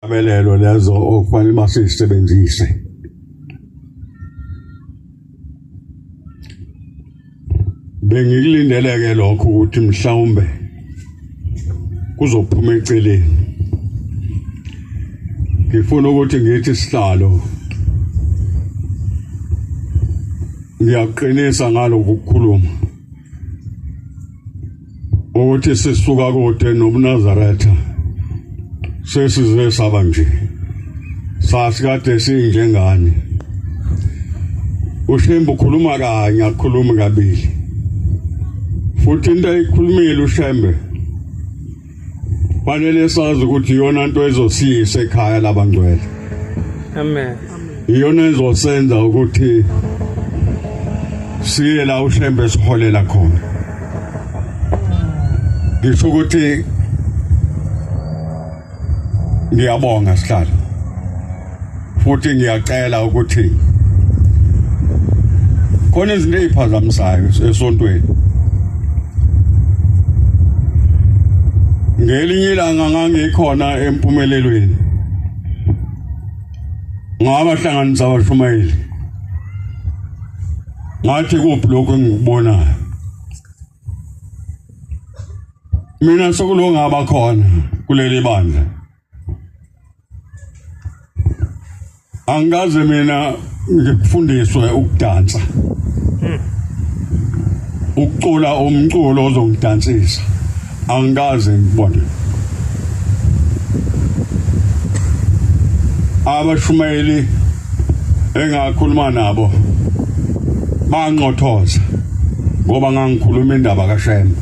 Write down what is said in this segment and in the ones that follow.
Amelelo lezo okufanele basisebenzise. Bengikulindeleke lokho ukuthi mhlawumbe kuzophuma eceleni. Ngifuna ukuthi ngithi sihlalo ngiyaqinisa ngalokukhuluma ukuthi sisuka kude nobunazaretha sesize saba nje sasikade sinjengani ushembe ukhuluma kanye akhulumi kabili futhi into ayikhulumile ushembe Fanele sazi ukuthi iyona nto ezosiyisa ekhaya labangcwele. Amen. Iyona ezosenza ukuthi siye la ushembe siholela khona. Ngisho ukuthi ngiyabonga sihlalo. futhi ngiyacela ukuthi khona izinto eziphazamisayo esontweni ngelinye ilanga ngangikhona empumelelweni ngabahlanganisa abashumayeli ngathi kuphi lokho engikubonayo mina sokulongaba khona kuleli bandla angikaze mina ngifundiswe ukudansa hmm. ukucula umculo ozongidansisa angikaze ngibone abashumayeli engakhuluma nabo banqothoza ngoba ngangikhuluma indaba kaShembe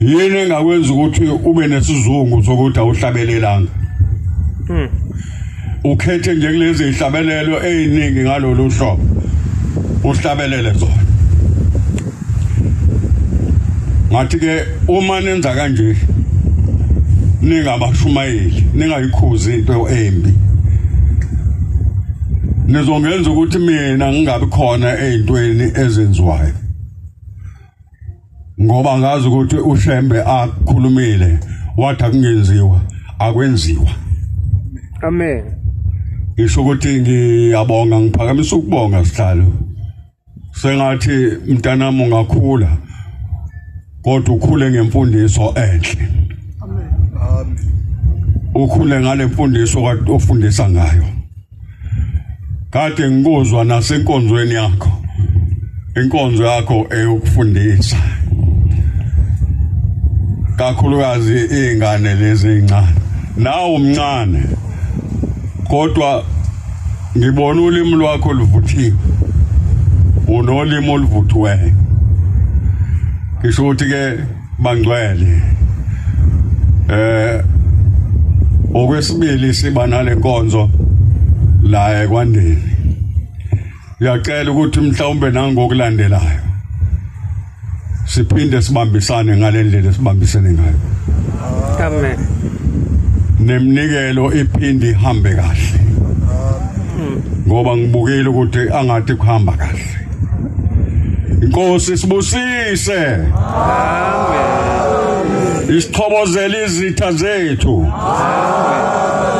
yini engakwenza ukuthi ube nesizungu sokuthi awuhlabelelanga hmm. ukhethe nje kulezi ihlabelelo eziningi ngalolu hlobo uhlabelele zona ngathi ke uma nenza kanje ningabashumayeli ningayikhuzi into embi nizongenza ukuthi mina ngingabi khona ezintweni ezenziwayo ngoba ngazi ukuthi uShembe akhulumile wathi akungenziwa akwenziwa amen ngisho ukuthi ngiyabonga ngiphakamisa ukubonga sihlalo sengathi mntanami ungakhula kodwa ukhule ngemfundiso enhle amen ukhule ngale mfundiso ofundisa ngayo kade ngikuzwa nasenkonzweni yakho inkonzo yakho eyokufundisa kakhulukazi izingane lezi ezincane nawe umncane kodwa ngibona ulimi lwakho luvuthiwe unolimi oluvuthiweyo ngisho ukuthi ke Bangcwele. Eh okwesibili siba nale nkonzo la ekwandeni. Ngiyacela ukuthi mhlawumbe nangokulandelayo siphinde sibambisane ngalendlela esibambisene ngayo. Amen. Nemnikelo iphindi ihambe kahle. Ngoba ngibukile ukuthi angathi kuhamba kahle. Inkosi sibusise. Amen. Isixhobozela izitha zethu. Amen.